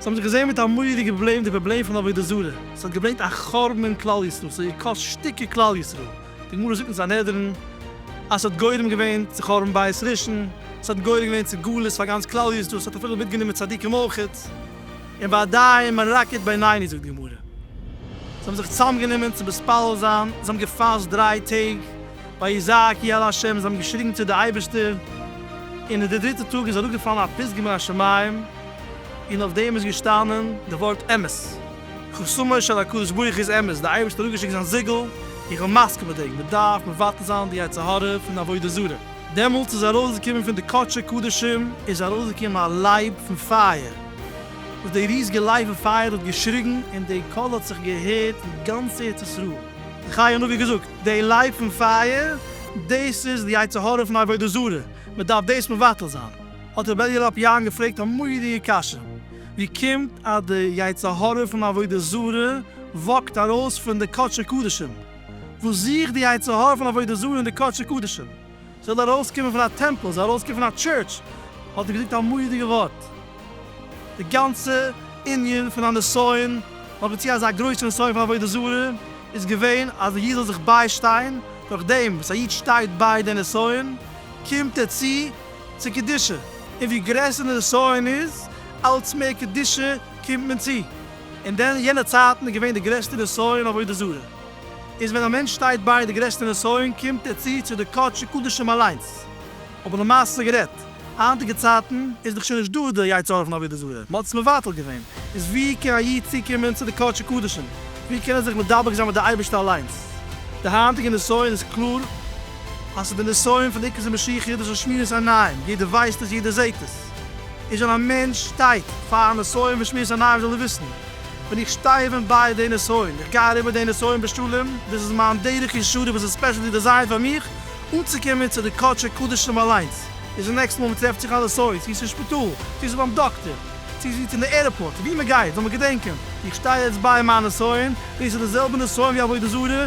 זיי האבן זיך געזעהן מיט א מוראדיגע פראבלעם, די פראבלעם פון עבודה זרה, עס האט געברענגט א חורבן אין כלל ישראל, עס האט געקאסט שטיקער כלל ישראל, די גמרא זאגט אין סנהדרין אז עס האט גורם געווען צו חורבן בית ראשון, עס האט גורם געווען צו גלות פאר גאנץ כלל ישראל, עס האט אפילו מיטגענומען צדיקים אויך, און ביי די מרקד בינוני זאגט די גמרא, זיי האבן זיך צוזאמגענומען צו מתפלל זיין, זיי האבן געפאסט דריי טעג. ויזעק כי אל ה', זיי האבן געשריגן צו די אייבערשטער, און אין די דריטע טאג איז אראפגעפאלן א פסגה מן השמים, און אויף דעם איז געשטאנען די ווארט אמת, חותמו של הקדוש ברוך הוא איז אמת, די אייבערשטער האט אראפגעשיקט זיין זיגל, איך בין מסכים מיט דעם, מען דארף מבטל זיין די יצר הרע פון עבודה זרה. דעמאלטס איז ארויסגעקומען פון די קדשי קדשים איז ארויסגעקומען א לייב פון פייער, וואס די ריזיגע לייב פון פייער האט געשריגן, און די קול האט זיך געהערט אין גאנץ ארץ ישראל, די חיי נביא האט געזאגט, די לייב פון פייער, דאס איז די יצר הרע פון עבודה זרה, מען דארף דאס מבטל זיין. האט רבי אלי' לאפ יארן געפרעגט א מורא'דיגע קשיא, ווי קומט אז די יצר הרע פון עבודה זרה וואקט ארויס פון די קדשי קדשים? וואס זוכט די יצר הרע פון עבודה זרה אין די קדשי קדשים? זאל ארויסקומען פון א טעמפל, זאל ארויסקומען פון א טשורטש, האט ער געזאגט א מורא'דיגע ווארט. די גאנצע ענין פון א נסיון, נאר דערצו אזא גרויסע נסיון פון עבודה זרה, איז געווען אז דער איד זאל זיך ביישטיין, דורך דעם וואס א איד שטייט ביי די נסיון, קומט ער צו צו קדושה, און ווי גרעסער די נסיון איז, אלץ מער קדושה קומט מען צו, און דען יענע צייטן איז געווען די גרעסטע נסיון עבודה זרה. איז ווען א מענטש שטייט ביי די גרעסטע נסיון קומט ער צו צו די קדשי קדשים אליינס, אבער למעשה גערעדט, היינטיגע צייטן איז דאך שוין נישט דא די יצה ר פון עבודה זרה, מ'האט עס מבטל געווען, איז ווי קען א איד צוקומען צו די קדשי קדשים, ווי קען ער זיך מדבק זיין מיט די אייבערשטער אליינס? די היינטיגע נסיון איז קלאר אז ס'איז די נסיון פון עיקר המשיחיות דאס איז שמירת עיניים, יעדער ווייסט עס יעדער זעהט עס, איז ווען א מענטש שטייט פאר א נסיון פון שמירת עיניים זאל ער וויסן, ווען איך שטיי ווען ביי די נסיון, איך גיי אריבער די נסיון בשלום, דאס איז מיין דרך ישרה וואס איז ספעשעלי דעזיינט פאר מיך אנצוקומען צו די קדשי קדשים אליינס, איז די נעקסטע מאל מען טרעפט זיך א נסיון, צו עס אין שפיטאל, צו עס איז ביים דאקטער, צו עס איז אין די עירפארט, ווי מען גייט, זאל מען געדענקען, איך שטיי יעצט ביי מיין נסיון, דאס איז די זעלבע נסיון ווי עבודה זרה,